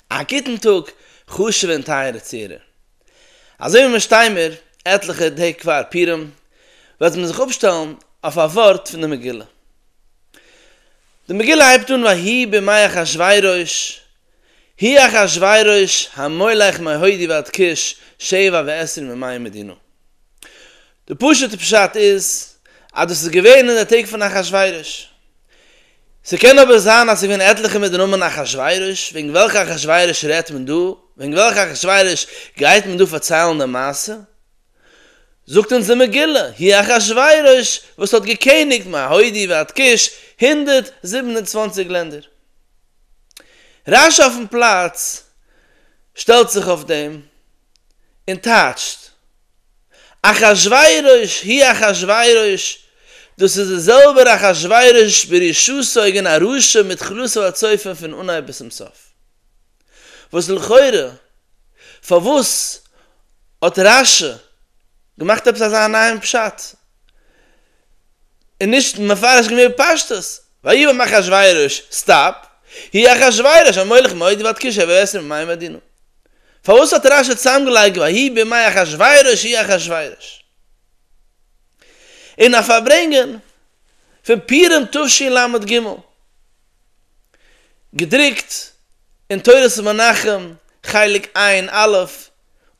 א גוטן טאג חשוב'ע און טייערע צוהערער. אזוי ווי מיר שטיין מיר עטליכע טעג פאר פורים, וועט מען זיך אפשטעלן אויף א ווארט פון די מגילה. די מגילה הייבט אן ויהי בימי אחשורוש, היא אחשורוש המולך מהודי ועד כוש שבע ועשרים ומאה מדינו. די פשוט'ע פשט איז אז דאס איז געווען אין די טעג פון אחשורוש. ס'קען אבער זיין אז ס'געווען עטליכע מיט די נאמען אחשורוש, וועגן וועלכע אחשורוש רעדט מען דא? וועגן וועלכע אחשורוש גייט מען דא פארציילן די מעשה? זאגט אונז די מגילה, היא אחשורוש וואס האט געקעניגט מהודי ועד כוש, הונדערט זיבן און צוואַנציק לענדער. רש י אויפן פלאץ שטעלט זיך אויף דעם און טייטשט אחשורוש, היא אחשורוש, דאס איז דער זעלבער אחשורוש ברשעותו אגען א רשע מתחילתו ועד סופו פון אנהייב ביז צום סוף. וואס לכאורה פארוואס האט רשי געמאכט עפעס אזא נייעם פשט? איז נישט מפרש געווען בפשטות, ויהי בימי אחשורוש, סטאפ, הי' אחשורוש המולך מודי ועד כ ש שבע עשרה מימי מדינו. פארוואס האט רש י צוזאמגעלייגט ויהי בימי אחשורוש הי' אחשורוש? אין א פארברענגען פון פורים תשל ג, געדרוקט אין תורת מנחם חלק עיין א'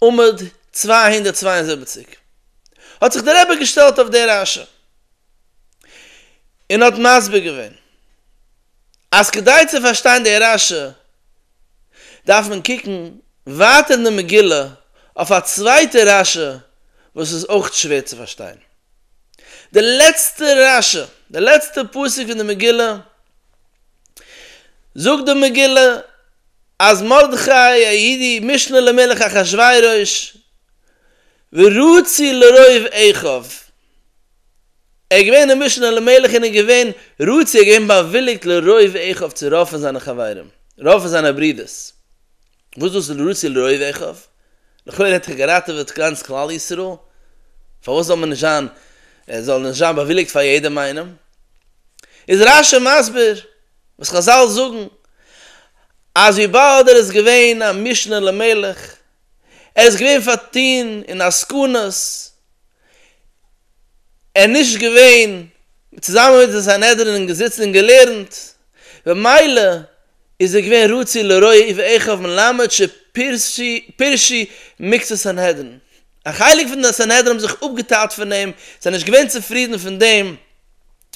עמוד צוויי הונדערט צוויי און זיבעציק, האט זיך דער רבי געשטעלט אויף די רשע און האט מסביר געווען אז כדי צו פארשטיין די רשע דארף מען קוקן ווייטער אין די מגילה אויף א צווייטע רשי וואס איז אויך שווער צו פארשטיין. די לעצטע רשי, די לעצטע פסוק פון די מגילה, זאגט די מגילה אז מרדכי היהודי משנה למלך אחשורוש ורצי לרוב עכב, ער איז געווען אין משנה למלך און איז געווען רוצה ער איז געווען באוויליגט לרוב עכב צו רופן זיינע חברים רופן זיינע ברידערס וואס דאס איז רוצה לרוב עכב לכאורה האט ער געראטעוועט גאנץ כלל ישראל פארוואס זאל מען נישט זיין ער זאל נישט זיין באוויליגט פאר יעדעם איינעם איז רש י מסביר וואס חזל זאגן אז וויבאלד ער איז געווען א משנה למלך ער איז געווען פארטון אין עסקנות, ער איז נישט געווען צוזאמען מיט די סנהדרין און געזיצן און געלערנט, במילא איז ער געווען רצוי לרעה אי ואיכא מלמד שפירשי מקצת סנהדרין, א חלק פון די סנהדרין האבן זיך אפגעטיילט פון אים, זיי זענען נישט געווען צופרידן פון דעם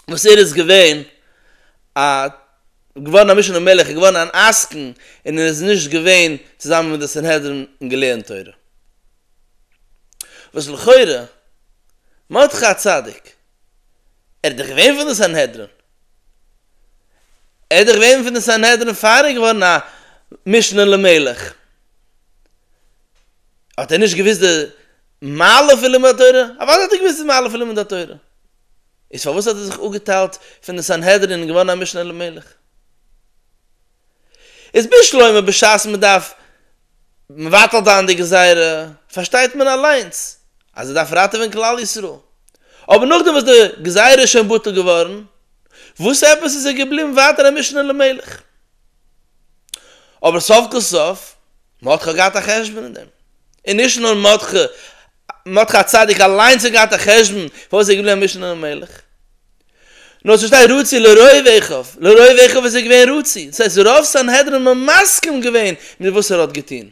וואס ער איז געווען א. געווארן א משנה מלך, ער איז געווארן אן עסקן, און ער איז נישט געווען צוזאמען מיט די סנהדרין און געלערנט תורה. וואס לכאורה, מרדכי הצדיק, ער איז דאך געווען פון די סנהדרין, ער איז דאך געווען פון די סנהדרין פאר ער איז געווארן א משנה למלך, האט ער נישט געוואוסט די מעלה פון לימוד התורה? אוודאי האט ער געוואוסט די מעלה פון לימוד התורה! איז פארוואס האט ער זיך אפגעטיילט פון די סנהדרין און געווארן א משנה למלך? איז בשלומה בשעת מען דארף מבטל זיין די גזירה פארשטייט מען אליינס אז ער דארף ראטעווען כלל ישראל, אבער נאכדעם וואס די גזירה איז שוין בטל געווארן, וואס עפעס איז ער געבליבן ווייטער א משנה למלך? אבער סוף כל סוף, מען האט ח ו געהאט א חשבון אין דעם, און נישט נאר מען האט ח מרדכי הצדיק אליינס האט געהאט א חשבון פארוואס ער איז געבליבן א משנה למלך, נאר עס שטייט רצי לרוב אחיו, לרוב אחיו איז ער געווען רצי, דאס הייסט רוב סנהדרין האבן מסכים געווען מיט וואס ער האט געטון,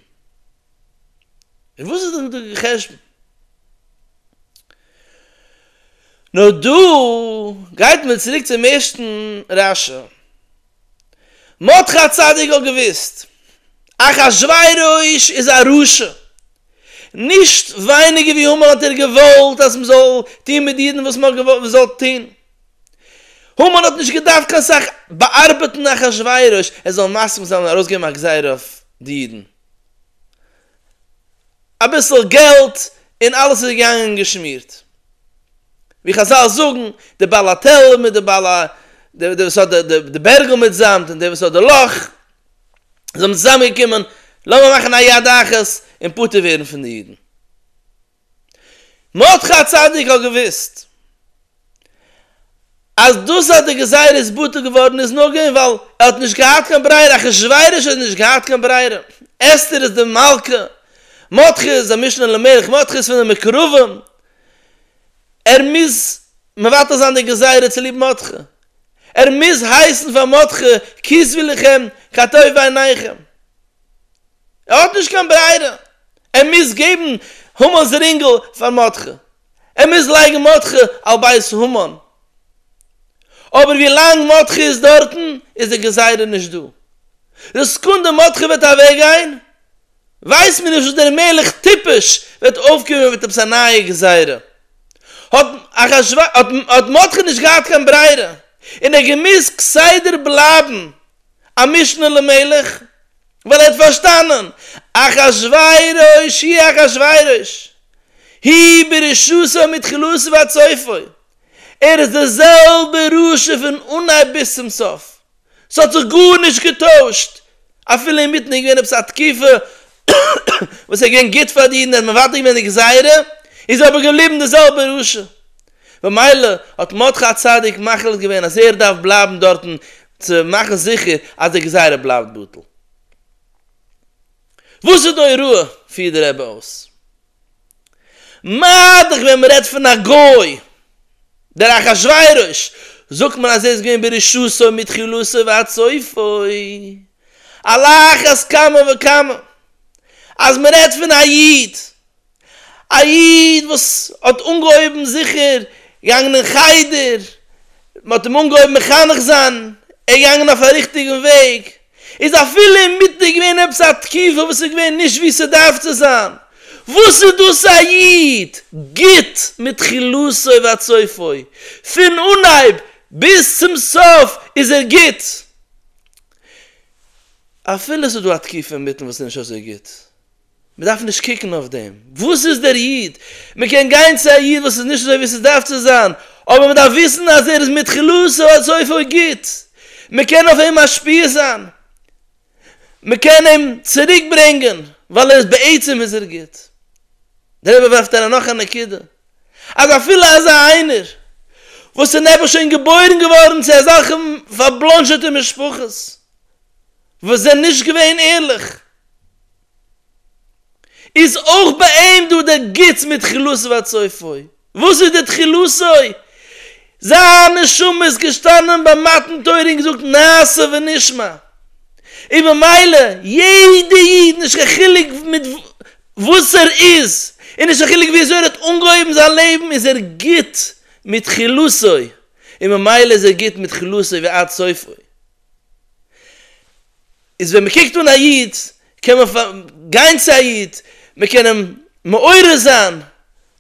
איז וואס איז דא די חשבון? נאר דא גייט מען צוריק צום ערשטן רשע. מרדכי הצדיק האט געוואוסט אחשורוש איז א רשע, נישט ווייניגער ווי המן האט ער געוואלט אז מען זאל טון מיט די אידן וואס מען זאל טון, המן האט נישט געדארפט קיין סאך באארבעטן אחשורוש ער זאל מסכים זיין און ארויסגעבן א גזירה אויף די אידן, אביסל געלט און אלעס איז געגאנגען געשמירט. ווי חזל זאגן, דער בעל האטעל מיט דער בעל ה, דער וואס האט די בערגל מיט זאמד און דער וואס האט די לאך, זיי זענען צוזאמגעקומען, לאמיר מאכן א יד אחת און פטור ווערן פון די אידן. מרדכי הצדיק האט געוואוסט אז דאס אז די גזירה איז בטל געווארן איז נאר געווען ווייל ער האט נישט געהאט קיין ברירה, אחשורוש האט נישט געהאט קיין ברירה, אסתר איז די מלכה, מרדכי איז המשנה למלך, מרדכי איז פון די מקורבים, ער מוז מבטל זיין די גזירה צוליב מרדכי, ער מוז הייסן פאר מרדכי כיסוויליכם כטוב בעיניכם. ער האט נישט קיין ברירה, ער מוז געבן המן'ס רינגל פאר מרדכי, ער מוז לייגן מרדכי על בית המן, אבער ווי לאנג מרדכי איז דארטן איז די גזירה נישט דא, די סקונדע מרדכי וועט אוועק גיין ווייסט מען נישט וואס דער מלך טיפש וועט אויפקומען מיט עפעס א נייע גזירה, האט אחשורוש האט מרדכי נישט געהאט קיין ברירה און ער האט געמוזט כסדר בלייבן א משנה למלך ווייל ער האט פארשטאנען אחשורוש היא אחשורוש היא ברשעותו מתחילתו ועד סופו ער איז די זעלבע רשע פון אנהייב ביז צום סוף ס'האט זיך גארנישט געטוישט אפילו אינמיטן איז געווען עפעס א תקופה וואס ער איז געווען גוט פאר די אידן ער האט מבטל געווען די גזירה איז אבער געבליבן די זעלבע רשע במילא האט מרדכי הצדיק מחליט געווען אז ער דארף בלייבן דארטן צו מאכן זיכער אז די גזירה בלייבט בטל. וואס איז די הוראה? פירט דער רבי אויס. מיידלעך ווען מ'רעדט פון א גוי, דער אחשורוש, זאגט מען אז ער איז געווען ברשעותו מתחילתו ועד סופו. על אחת כמה וכמה אז מ'רעדט פון א איד. א איד וואס האט אנגעהויבן זיכער געגאנגען אין חדר, מען האט אים אנגעהויבן מחנך זיין, ער איז געגאנגען אויף א ריכטיגן וועג, איז אפילו אינמיטן געווען עפעס א תקופה וואס איז געווען נישט ווי ס'דארף צו זיין, וואס איז דאס א איד גוט מתחילתו ועד סופו, פון אנהייב ביז צום סוף איז ער גוט, אפילו ס'איז דא א תקופה אינמיטן וואס איז נישט אזוי גוט. מען דארף נישט קוקן אויף דעם וואס איז דער איד, מען קען גיין צו א איד וואס איז נישט אזוי ווי עס דארף צו זיין, אבער מען דארף וויסן אז ער איז מתחילתו ועד סופו גוט, מען קען אויף אים משפיע זיין, מען קען אים צוריק ברענגען, ווייל ער איז בעצם איז ער גוט. דער רבי ווארפט אריין נאך א נקודה, אז אפילו אזא איינער וואס איז נעבעך שוין געבוירן געווארן צו אזעלכע פארבלאנזשעטע משפחות וואס זענען נישט געווען ערליך, איז אויך ביי אים דא דער גוטס מיט תחילתו ועד סופו. וואס איז די תחילתו? זיין נשמה איז געשטאנען ביי מתן תורה און געזאגט נעשה ונשמע. און ממילא יעדע איד נישט קיין חילוק מיט וואס ער איז, און נישט קיין חילוק וויאזוי ער האט אנגעהויבן זיין לעבן איז ער גוט מיט תחילתו, און ממילא איז ער גוט מיט תחילתו ועד סופו. איז ווען מ'קוקט אן א איד קען מען גיין צו א איד, מ'קען אים מעורר זיין,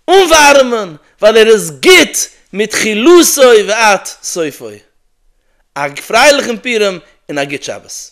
אנווארעמען, ווייל ער איז גוט מיט חילותו ועד סופו. א פרייליכן פורים און א גוט שבת.